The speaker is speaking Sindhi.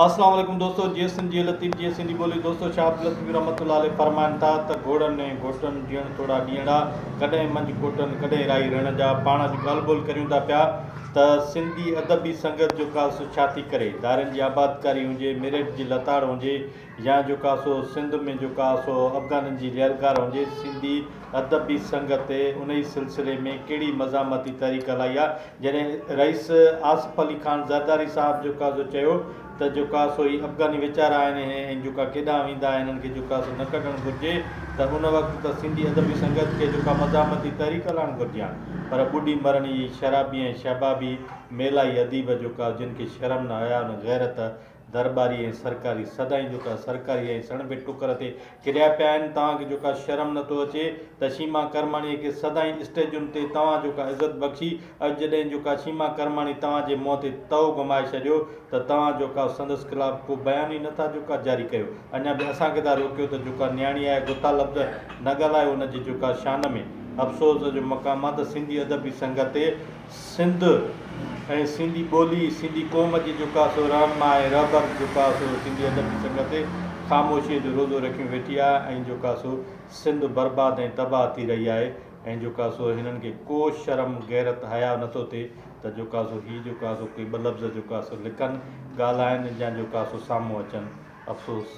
اسلام عليڪم دوستو جيئي سنڌ جيئي لطيف جيئي سنڌي ٻولي دوستو شاھ عبداللطيف رحمت الله عليه فرمائن ٿا ته گھوڙن ۽ گھوٽن جيڻ توڙا ڏينھڙا ڪڏھن منجھ ڪوٽن ڪڏھن راھي رھڻ جا پاڻ اڄ ڳالھ ٻولھ ڪريون ٿا پيا ته سنڌي ادبي سنگت جو ڪا سو ڇا ٿي ڪري ڌارين جي آبادڪاري ھجي ميرٽ جي لتاڙ ھجي يا جو ڪا سو سنڌ ۾ جو ڪا سو افغانن جي ليلڪار هجي سنڌي ادبي سنگت تي انهي سلسلي ۾ ڪهڙي مزاحمتي تحريڪ هلائي آ جڏهن رئيس آصف علي خان زرداري صاحب جو ڪا سو چيو ته جو ڪا سو هي افغاني ويچارا آهن هي جو ڪا ڪيڏانهن ويندا هنن کي جو ڪا سو نه ڪڍڻ گهرجي ته ان وقت ته سنڌي ادبي سنگت کي جو ڪا مزاحمتي تحريڪ هلائڻ گهرجي ها پر ٻڏي مرڻ هي شرابي ۽ شهبابي ميلائي اديب جو ڪا جن کي شرم نه حيا نه غيرت درٻاري ۽ سرڪاري سدائين جو ڪا سرڪاري ۽ سڻڀي ٽڪر تي ڪريا پيا آهن توهان کي جو ڪا شرم نه ٿو اچي ته شيما ڪرماڻي کي سدائين اسٽيجن تي توهان جو ڪا عزت بخشي اڄ جڏهن جو ڪا شيما ڪرماڻي توهان جي منهن تي تئو گهمائي ڇڏيو ته توهان جو ڪا سندس خلاف ڪو بيان ئي نه ٿا جو ڪا جاري ڪيو اڃا به اسان کي ٿا روڪيو ته جو ڪا نياڻي آهي گٿا لفظ نه ڳالهايو ان جي جو ڪا شان ۾ افسوس جو مقام آهي ته سنڌي ادبي سنگت تي سنڌ ۽ سنڌي ٻولي، سنڌي قوم جي جيڪا سو رهنما ۽ رهبر جيڪا سو سنڌي ادب جي سڱ تي خاموشيء جو روزو رکيون ويٺي آهي ۽ جيڪا سو سنڌ برباد ۽ تباهه ٿي رهي آهي ۽ جيڪا سو هنن کي ڪو شرم غيرت حياء نٿو ٿئي ته جيڪا سو هي جيڪا سو ڪي ٻه لفظ جيڪا سو لکن، ڳالهائن يا جيڪا سو سامهون اچن. افسوس!